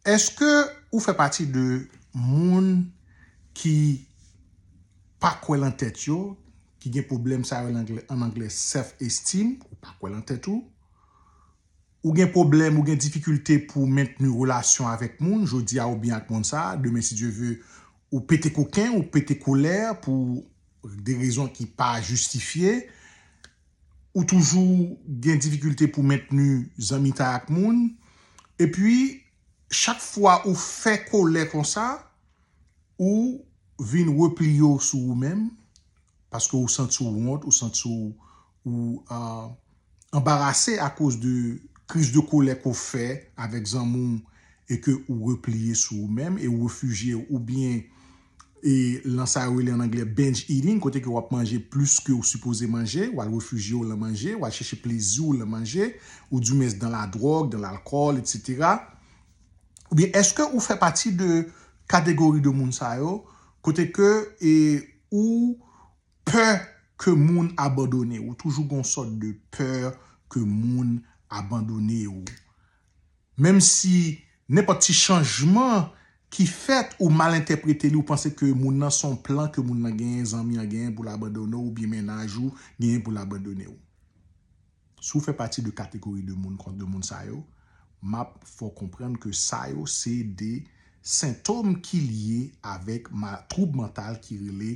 Eske ou fè pati de moun ki pa kwè lan tèt yo, ki gen pwoblèm sa yo an anglè self esteem, ou pa kwè lan tèt ou, ou gen pwoblèm, ou gen difikilte pou w mentni relasyon avèk moun, jodi a ou byen ak moun sa, demen si Dye ve ou pete koken, ou pete kolè pou de rezon ki pa jistifye. ou toujou gen difikilte pou mentni zanmitay ak moun, epi chak fwa ou fè kolè konsa, ou vin repliye w sou ou menm, paske ou santi w wont, ou santi w ou anbarase akoz de kriz de kolè ke w fè avèk zanmi w e ke ou repliye sou ou menm e ou refijye w oubyen e lan sa yo rele an anglè binge eating kote ke wap manje plis ke ou sipoze manje, wal refijye ou lan manje, wal chèche plezi ou lan manje, ou di mens dan la dròg, dan lalkòl, etc. Ou byen eske ou fè pati de kategori de moun sa yo kote ke e ou pè ke moun abandone ou, toujou gon sòt de pè ke moun abandone ou. Menm si nenpòt ti chanjman ki fèt ou mal entèprete li ou panse ke moun nan son plan ke moun nan genyen zanmi an genyen poul abandone w oubyen mennaj ou genyen poul abandone w. Si w fè pati de kategori de moun kon de moun sa yo map fè w konprann ke sa yo se de sentom ki lye avèk ma twoub mantal ki rele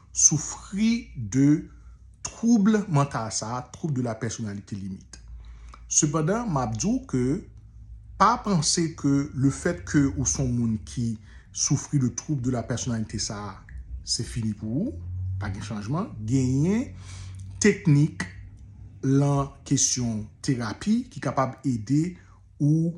Soufri de twoub mantal sa, twoub de la pèsonalite limit. Sepandan, map di w ke pa panse ke le fèt ke ou son moun ki soufri de twoub de la pèsonalite sa, se fini pou ou, pa gen chanjman. Genyen teknik lan kesyon terapi ki kapab ede ou.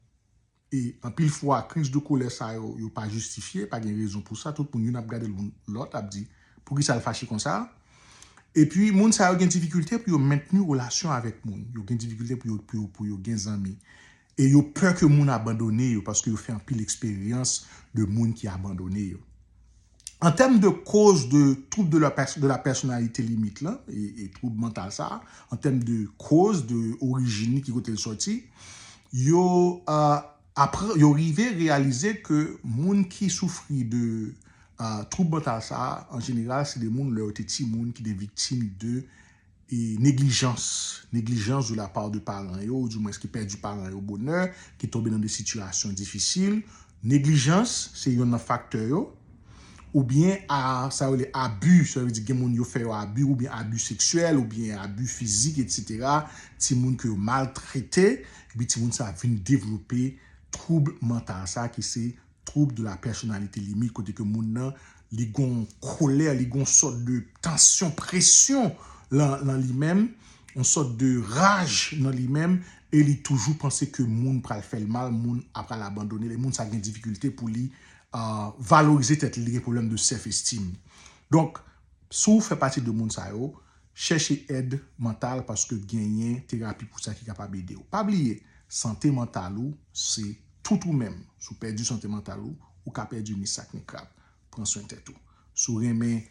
E anpil fwa kriz de kolè sa yo, yo pa jistifye, pa gen rezon pou sa, tout moun youn ap gade lòt ap di poukisa l fache konsa. Epi moun sa yo gen difikilte pou yo mentni relasyon avèk moun, yo gen difikilte pou yo pou yo gen zanmi e yo pè ke moun abandone yo paske yo fè anpil eksperyans de moun ki abandone yo. An tèm de koz de twoub de la pèsonalite limit lan, twoub mantal sa, an tèm de koz, de orijin li, ki kote l sòti, yo rive reyalize ke moun ki soufri de twoub mantal sa, an jeneral se de moun lè yo te timoun ki te viktim de e neglijans, negligence de la part de paran yo, ou di mwens ki pèdi paran yo bonè, ki tonbe nan de sitiyasyon difisil, neglijans se yonn nan faktè yo, oubyen a, sa yo rele abi, sa vle di gen moun yo fè yo abi, oubyen abi seksyèl, oubyen abi fizik etsetera, timoun ke yo maltrete, epi timoun sa vin devlope twoub mantal sa ki se. Trouble de la personnalité limite kote ke moun nan li gon kolè, li gon sòt de tansyon, presyon lan li menm, yon sòt de raj nan li menm e li toujou panse ke moun pral fè l mal, moun a pral abandone l e moun sa gen difikilte pou li valorize tèt li, li gen pwoblèm de self estime. Donk, si w fè pati de moun sa yo, chèche èd mantal paske genyen terapi pou sa ki kapab ede w. Pa bliye, sante mantal ou se Tout ou menm, si w pèdi sante mantal ou, ou ka pèdi ni sak ni krab. Pran swen tèt ou. Si w renmen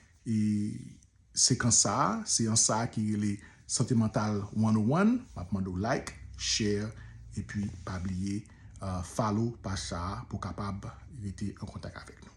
sekans sa a, seyans sa a ki rele Sante Mantal 101, m ap mande w like, share epi pa bliye follow paj sa a pou w kapab rete an kontak avèk nou.